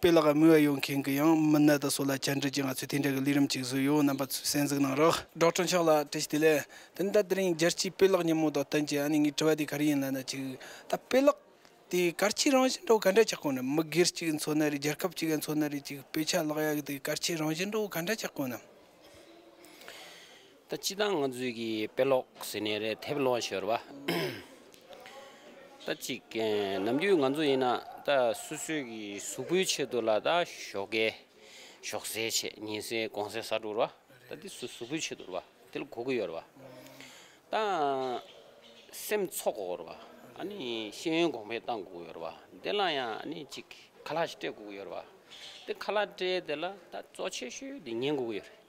དཔེ་ལ་དངུལ་བ་ཡོད་མཁན་གྱི་ཡང་མི་སྣ་དང་སོགས་ལ་བཅར་འདྲི་གྱིས་ང་ཚོས་དེ་འདྲ་གི་ལས་རིམ་ཅིག་བཟོས་ཡོད་རྣམ་པ་ཚོས་གསན་གཟིགས་གནང་རོགས། སྒྲོག་ཁྲོ་མཆོག་ལགས་བཀྲ་ཤིས་བདེ་ལེགས། ད་ནི་ད་དེ་རིང་རྒྱལ་སྤྱིའི་དཔེ་ཀློག་ཉིན་མོ་དང་བསྟུན་གྱི་ཨ་ནི་ངའི་དྲི་བ་དེ་ག་རེ་ཡིན་ལབ་ན་ཅིག་ད་དཔེ་ཀློག་དེ་སྐར་ཆའི་རང་བཞིན་འདྲ་བོ་ག་འདྲ་ཆགས་གོ་ནམ་མི་སྒེར་གཅིག་གི་འཚོ་ན་རེད་རྒྱལ་ཁབ་གཅིག་གི་འཚོ་ན་རེད་ཅིག་དཔེ་ཆ་ཀློག་ཡག་གི་དེ་སྐར་ཆའི་རང་བཞིན་འདྲ་བོ་ག་འདྲ་ཆགས་གོ་ནམ། ད་སྤྱི་དང་ང་ཚོའི་གི་དཔེ་ཀློག་ཟེར་ནས་རེད་ཐེབས་ལོང་ཤོར་བ། ད་ཅིག་ནམ་དུས་ང་ཚོ་ཡིན་ན་ད་སུ་སུའི་གི་གཟུགས་པོའི་ཆེད་དུ་ལ་ད་ཞོག་གེ་ཞོག་ཟས་བྱེད་ཉིན་ཟས་གོང་ཟས་ཟ་དྲུར་བ་ད་དེ་སུ་གཟུགས་པོའི་ཆེད་དུར་བ་དེ་ལ་གོ་གི་ཡོར་བ། ད་སེམས་ཚོགས་གོ་གོར་བ་ཨ་ནི་ཤེས་ཡོན་གོང་འཕེལ་གཏང་གོ་ཡོར་བ་དེ་ལ་ཡང་ཨ་ནི་ཅིག་ཁ་ལག་སྤྲད་གོ་གི་ཡོར་བ། དེ་ཁ་ལག་སྤྲད་དེ་ལ་ད་གཙོ་ཆེ་ཤོས་དེ་ཉན་གོ་གི་ཡོར་བ།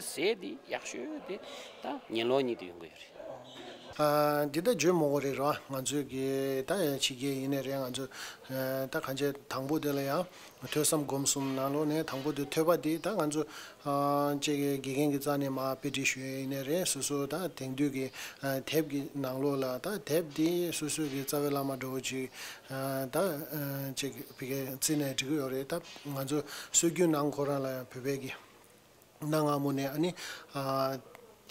ཟས་འདི་ཡག་ཤོས་དེ་ད་ཉིན་ལོག་གཉིད་དུ་ཡོང་གི་ཡོད་རེད། འདི་ད་བརྗོད་མོག་རེད་རོ་ང་ཚོས་གི་ད་ཕྱི་རྒྱལ་ཡིན་ནི་རེད་ང་ཚོས་ད་གང་ཆེ་དང་པོ་དེ་ལ་ཡང་ཐོས་བསམ་སྒོམ་གསུམ་ནང་ལོག་ནས་དང་པོ་དེ་ཐོས་པ་དེ་ད་ང་ཚོ་བཅས་ཀྱི་དགེ་རྒན་གྱི་རྩ་ནས་མ་དཔེ་འབྲི་ཞུས་ཡིན་ནི་རེད་སོ་སོ་ད་དེང་དུས་གི་དེབ་གི་ནང་ལོག་ལ་ད་དེབ་དེ་སོ་སོའི་གི་རྩ་བའི་བླ་མ་འགྲོ་བོ་ཅིག་ད་བཅས་ཀྱི་བི་གའི་རྩིས་ནས་འབྲི་གི་ཡོད་རེད་ད་ང་ཚོ་སྲོལ་རྒྱུན་ནང་ཁོ་རང་ལ་ཡང་བོད་པའི་གི། གནའ་སྔ་མོ་ནས་ཨ་ནི།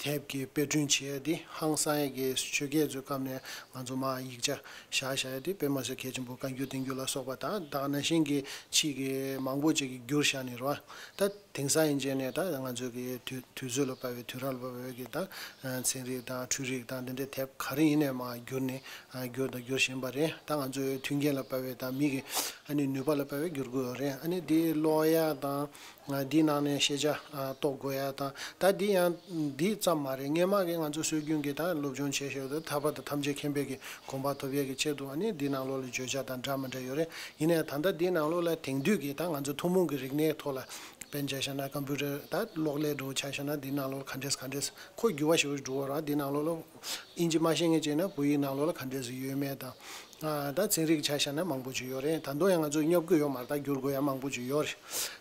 དེབ་ཀྱི་དཔེ་སྐྲུན་བྱེད་ཡ་དེ་ཧང་སངས་ཀྱི་ཆོས་རྒྱལ་ཚོའི་སྐབས་ནས་ང་ཚོ་མ་ཡིག་ཆ་བཞག་བཞག་ཡ་དེ་དཔེ་མ་ཟེར་གལ་ཆེན་པོ་བཀའ་འགྱུར་བསྟན་འགྱུར་ལ་སོགས་པ་དང་དག་ན་ཤིང་གི་ཕྱིས་ཀྱི་མང་པོ་བཅས་ཀྱི་འགྱུར་བཞག་ནི་རོ། ད་དེང་སང་ཡིན་རྗེས་ནས་ད་ང་ཚོས་ཀྱི་དུས་ཚོད་ལ་བབས་པའི་དུས་རབས་ལ་བབས་པའི་ཀྱི་ད་ཚན་རིག་དང་འཕྲུལ་རིག་དང་འདི་འདྲའི་དེབ་ག་རེ་ཡིན་ནས་མ་འགྱུར་ནི་འགྱུར་དང་འགྱུར་བཞིན་པ་རེད་ད་ང་ཚོས་མཐུན་རྐྱེན་ལ་བབས་པའི་ད་མིག་གི་ཨ་ནི་ནུས་པ་ལ་བབས་པའི་འགྱུར་དགོས་རེད་ཨ་ནི་འདི་ཀློག་ཡ་དང། འདིའི་ནང་ནས་ཤེས་བྱ་རྟོགས་དགོས་ཡ་དང་ད་འདི་ཡང་འདི་ཙམ་མ་རེད་ངས་མ་གི་ང་ཚོ་སྲོལ་རྒྱུན་གྱི་དང་སློབ་སྦྱོང་བྱེད་ཞོར་དུ་ཐར་པ་དང་ཐམས་ཅད་མཁྱེན་པའི་གི་གོམ་པ་ཐོབ་ཡས་གི་ཆེད་དུ་ནི་འདི་ནང་ལོགས་ལ་བརྗོད་བྱ་དང་འདྲ་མི་འདྲ་ཡོད་རེད་ཡིན་ནའི་ད་ལྟ་འདི་ནང་ལོགས་ལ་དེང་དུས་གི་དང་ང་ཚོ་ཐུང་མོང་གི་རིག་གནས་ཐོག་ལ་དཔེ་འཇལ་བྱ་ན Computer དང་གློག་ཀླད་འགྲོ་བྱ་བྱ་ན་འདི་ནང་ལོགས་ལ་ག་འདྲས་ག་འདྲས་ཁོ་རྒྱུ་བ་ཞིག་འགྲོ་བ་རང་འདི་ནང་ལོགས་ལ་ཨིན་ཇི་མ་ཤེས་ངེས་བྱས་ན་བོད་ཡིག་ནང་ལོགས་ལ་ག་འདྲས་ཡོད་མེད་དང། ད་ཚན་རིག་ཆ་ཤས་ན་མང་པོ་ཅིག་ཡོད་རེད་ད་དུང་ཡང་ང་ཚོས་སྙོབ་དགོས་ཡོད་མ་རྟགས་བསྒྱུར་དགོས་ཡ་མང་པོ་ཅིག་ཡོད་རེད་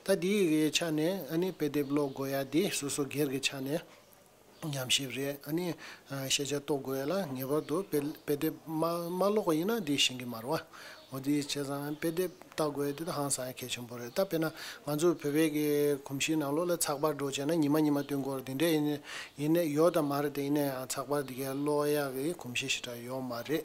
ད་འདི་ཡི་ཆ་ནས་ཨཱ་ནི་དཔེ་དེབ་ཀློག་དགོས་ཡ་འདི་སོ་སོ་སྒེར་གྱི་ཆ་ནས་ཉམས་ཞིབ་རེད་ཨཱ་ནི་ཤེས་བྱ་རྟོགས་དགོས་ཡ་ལ་ངེས་པར་དུ་དཔེ་དེབ་མ་ཀློག་པ་ཡིན་ན་འདི་ཤེས་ཀྱི་མ་རུང་ཨོ་དེ་བྱས་ཙང་དཔེ་དེབ་ལྟ་དགོས་ཡ་འདི་ད་ཧང་སང་གལ་ཆེན་པོ་རེད་ད་དཔེར་ན་ང་ཚོ་བོད་པའི་གི་གོམས་གཤིས་ནང་ལོགས་ལ་ཚགས་པར་སྒྲོག་བྱས་ན་ཉི་མ་ཉི་མ་བསྟུན་དགོས་རེད་འདི་འདྲས་ཡིན་ཡོད་དམ་མ་རེད་ད་ཡིན་ན་ཡང་ཚགས་པར་འདི་གའི་ཀློག་ཡ་གི་གོམས་གཤིས་ཞེ་དྲག་ཡོད་མ་རེད།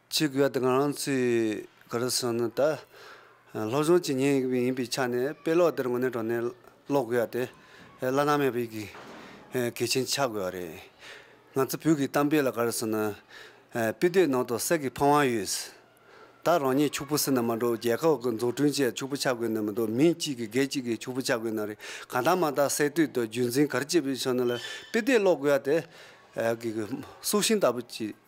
ཆོས་ཀྱི་བར་དུ་ང་རང་ཚོས་ག་རེ་བཟོས་ནས་ད་སློབ་སྦྱོང་བྱེད་ཉིན་ཡིན་པའི་ཆ་ནས་དཔེ་ཀློག་དེར་དངོས་གནས་དྲོ་ནས་ཀློག་དགོས་ཡ་དེ་བླ་ན་མེད་པའི་གལ་ཆེན་ཆགས་དགོས་བ་རེད། ང་ཚོ་བོད་ཀྱི་གཏམ་དཔེ་ལ་ག་རེ་བཟོས་ན། དཔེ་ལྟོས་ནང་དུ་གསེར་གྱི་ཕང་བ་ཡོད། ད་རང་ཉིད་ཕྱུག་པོ་སྲིད་ན་མ་འགྲོ་རྒྱལ་ཁབ་ཀྱི་འཛུགས་སྐྲུན་ཆེད་ཕྱུག་པོ་ཆགས་དགོས་ན་མི་འདུག་མིང་གཅིག་གིས་སྒེར་གཅིག་གིས་ཕྱུག་པོ་ཆགས་དགོས་ན་རེད་གང་ལྟར་མ་དག་གསེར་ལྟོས་དང་རྒྱུན་འཛིན་ག་རེ་བྱེད་པའི་ཆོ་ནས་ལ་དཔེ་ལྟོས་ཀློག་དགོས་ཡ་དེ། སྲོག་ཤིང་ལྟ་བུ་གཅིག།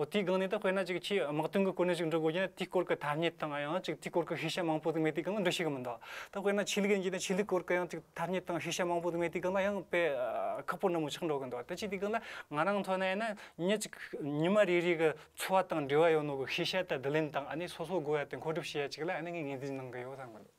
འོ་དེའི་སྒང་ནས་ད་དཔེར་ན་ཅིག་ཁྱེད་དམག་དོན་གྱི་སྐོར་ནས་ཅིག་འབྲི་དགོས་ཀྱི་ན་དེའི་སྐོར་གྱི་ཐ་སྙད་དང་ཡང་ཅིག་དེའི་སྐོར་གྱི་ཤེས་བྱ་མང་པོ་དེ་མེད་དེའི་སྒང་ལ་འབྲི་ཤེས་ཀྱི་མི་འདུག་ད་དཔེར་ན་ཆོས་ལུགས་ཡིན་གྱི་ན་ཆོས་ལུགས་སྐོར་གྱི་ཡང་ཅིག་ཐ་སྙད་དང་ཤེས་བྱ་མང་པོ་དེ་མེད་དེའི་སྒང་ལ་ཡང་དཔེ་ཁག་པོ་ནན་མོ་ཆགས་འགྲོ་གི་འདུག་ད་ཅིག་དེའི་སྒང་ལ་ང་རང་མཐོང་ན་ཡང་ན་ཉིན་ཅིག་ཉི་མ་རེ་རེའི་གི་འཚོ་བ་དང་འབྲེལ་བ་ཡོད་ནོ་གི་ཤེས་བྱ་དང་བསྡུ་ལེན་དང་ཨ་ནི་སོ་སོ་དགོས་ཡ་དེ་མཁོ་སྒྲུབ་བྱེད་ཡ་ཅིག་ལ་ཨ་ནི་ངའི་ངེས་འཛིན་གནང་གི་ཡོད་བསམ་གི་འདུག།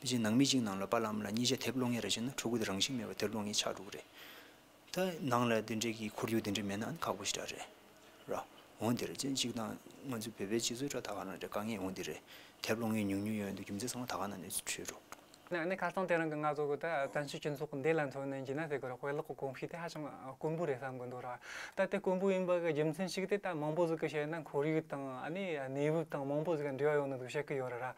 དེ་བཞིན་ནང་མི་གཅིག་ནང་ལོ་པ་ལམ་ལ་གཉིས་ཆ་དེབ་ཀློག་ངེས་རེད་ཅེ་ན་ཕྲུ་གུ་དེ་རང་བཞིན་མེད་པར་དེབ་ཀློག་ངེས་ཆགས་འགྲོ་གི་རེད། ད་ནང་ལ་དེ་འདྲའི་གི་ཁོར་ཡུག་དེ་འདྲའི་མེད་ན་ཨང་ཁག་པོ་ཞིག་འདྲ་རེད། ར་འོང་འདི་རེད་ཅེ་གཅིག་དང་ང་ཚོའི་བོད་པའི་སྤྱི་ཚོགས་ཁྲོད་ད་ག་ནང་འདྲ་དཀའ་ངལ་འོང་འདི་རེད། དེབ་ཀློག་ངེས་ཉུང་ཉུང་ཡོད་འདུག་རྒྱུ་མཚན་ཚང་མ་ད་ག་ནང་ནས་འཕྲོས་འགྲོ། ནས་ཁ་སང་དེ་རིང་གི་ང་ཚོ་གི་ད་བཙན་བྱོལ་སྤྱི་ཚོགས་འདི་ལ་མཚོན་ནས་འཇིགས་ན་ཟེར་གི་རེད་དཔེ་ཀློག་གི་གོམས་གཤིས་དེ་ཧ་ཅང་དཀོན་པོ་རེད་བསམ་གི་འདུག་ར་ད་དེ་དཀོན་པོ་ཡིན་པ་གི་རྒྱུ་མཚན་ཞིག་དེ་ད་མང་པོ་ཟིག་གི་བཤད་ན་ཁོར་ཡུག་དང་ཨ་ནི་གནས་བབ་དང་མང་པོ་ཟིག་གི་འབྲེལ་བ་ཡོད་ན་འདུག་བཤད་གི་ཡོད་རེད་ར།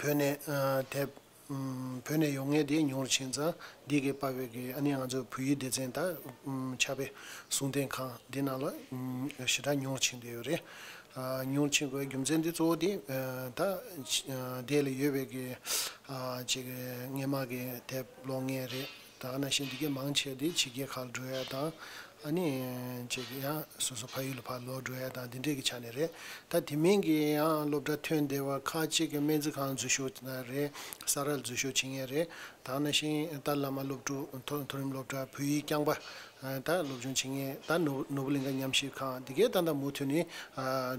བོད་ནས་དེབ་བོད་ནས་ཡོང་ངེས་དེ་ཉུང་རུ་ཕྱིན་ཙང་འདི་གའི་དཔའ་བོད་ཀྱི་ཨ་ནེ་ང་ཚོའི་བོད་ཡིག་སྡེ་ཚན་དང་ཕྱག་དཔེ་གསུང་རྟེན་ཁང་འདི་རྣམས་ལ་ཞེ་དྲག་ཉུང་རུ་ཕྱིན་བསྡད་ཡོད་རེད། ཉུང་རུ་ཕྱིན་དགོས་པའི་རྒྱུ་མཚན་དེ་གཙོ་བོ་དེ་ད་ལྟའི་ལ་ཡོད་པའི་ཀྱི་ངན་སྨྲ་གི་དེབ་ཀློག་ངེས་རེད། ད་ག་ན་ཤེས་འདི་གས་མང་ཆེ་དེ་ཕྱི་རྒྱལ་ཁག་ལ་འགྲོ་ཡ་དང། ཨ་ནི། ཅེས་ཀྱི་ཡང་སོ་སོ་ཕ་ཡུལ་ལ་ཕར་ལོག་འགྲོ་ཡ་དང་འདི་འདྲས་ཀྱི་ཆ་ནས་རེད། ད་དེ་མིན་གྱི་ཡང་སློབ་གྲྭ་ཐོན་བདེ་བར་ཁ་ཅིག་གི་སྨན་རྩིས་ཁང་འཛུལ་ཞུགས་ན་རེ། ས་རཱ་ལ་འཛུལ་ཞུགས་བྱེད་ངེས་རེད། ད་ག་ན་ཤེས་ཏཱ་ལ་མ་སློབ་ཕྲུག་མཐོ་རིམ་སློབ་གྲྭ་བོད་ཡིག་རྐྱང་པ་ད་སློབ་ཆུང་བྱེད་ངེས་ད་ནོར་བུ་གླིང་ཁ་མཉམ་གཞིས་ཁང་དེ་གའི་ཏག་ཏག་མུ་མཐུད་ནས་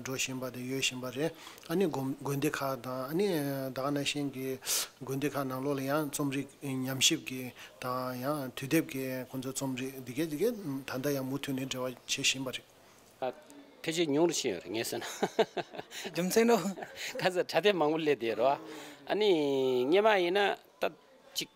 འགྲོ་བཞིན་པ་དང་ཡོད་བཞིན་པ་རེད། ཨ་ནི་དགོན་སྡེ་ཁག་དང་ཨ་ནི་བདག་ན་གཞན་གྱི་དགོན་སྡེ་ཁག་ནང་ལོགས་ལ་ཡང་རྩོམ་རིག་ཉམས་ཞིབ་ཀྱི་དང་ཡང་དུས་དེབ་ཀྱི་ཁོང་ཚོའི་རྩོམ་རིག་དེ་གའི་དེ་གའི་ད་ལྟ་ཡང་མུ་མཐུད་ནས་འབྲེལ་བ་བྱེད་བཞིན་པ་རེད། ཕལ་ཆེར་ཉུང་རུ་ཕྱིན་ཡོད་རེད་ངའི་བསམ་ན། རྒྱུ་མཚན་ནོ། ཁ་ཟས་གྲ་སྟེ་མང་པོ་སླེབས་བསྡད་རོགས། ཨ་ནི་སྙེ་མ་ཡིན་ན་ད་ཅིག་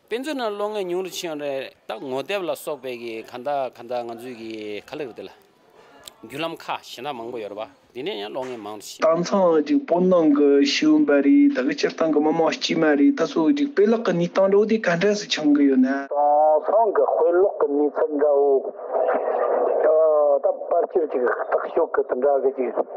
དཔེ་མཛོད་ནང་ལོ་ལྔའི་ཉུང་རུ་ཕྱིན་ཡོད་རེད་ད་ངོ་དེབ་ལ་སོགས་པའི་གི་ག་འདའ་ག་འདའ་ང་ཚོའི་གི་ག་ལེགས་རེད་དེ་ལ་རྒྱུ་ལམ་ཁ་ཞེ་འདྲ་མང་པོ་ཡོད་རེད་བ་དེ་ནས་ཡང་ལོ་ལྔའི་མང་རུ་ཕྱིན། དང་ཚང་གཅིག་སྤོ་ནང་གི་ཤེའུ་འབའ་རི་ད་གི་སྤྱིར་བཏང་གི་མི་དམངས་དཀྱུས་མ་རེད་ད་ཚོ་གཅིག་དཔེ་ཀློག་གི་ནུས་སྟངས་འགྲོ་དེ་ག་འདྲ་སུ་ཆང་གི་ཡོད་ན། དང་ཚང་གི་དཔེ་ཀློག་གི་ནུས་ཚད་འདྲ་བོ་ད་པར་ཕྱིར་གཅིག་བརྟག་ཞོག་གི་དེ་འདྲ་གི་གཅིག།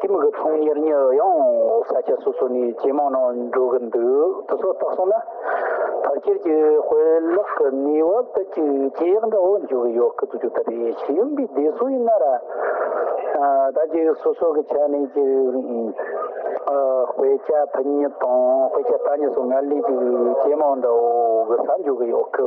དེ་མི་གི་ཚོང་གཉེར་གཉེར་ཡོང་ས་ཆ་སོ་སོ་ནས་ཇེ་མང་ནང་འགྲོ་གི་འདུག་དེ་ཚོ་བརྟག་སོང་ན་ཕར་ཁྱེར་གྱི་དཔེ་ཀློག་གི་ནུས་བ་དེ་ཅི་ཇེ་ཡག་འདྲ་བོ་འགྱུར་གི་ཡོད་གི་འདུག་རྒྱུ་ད་རེད་ཤེས་ཡོན་པའི་སྡེ་སུ་ཡིན་ན་ར་ད་ཅི་སོ་སོ་གི་ཆ་ནས་ཅི་དཔེ་ཆ་ཕུ་ཉེ་དང་དཔེ་ཆ་ཐ་ཉེ་སོགས་ངར་ལས་ཅི་ཇེ་མང་འདྲ་བོ་གི་ས་འགྱུར་གི་ཡོད་གི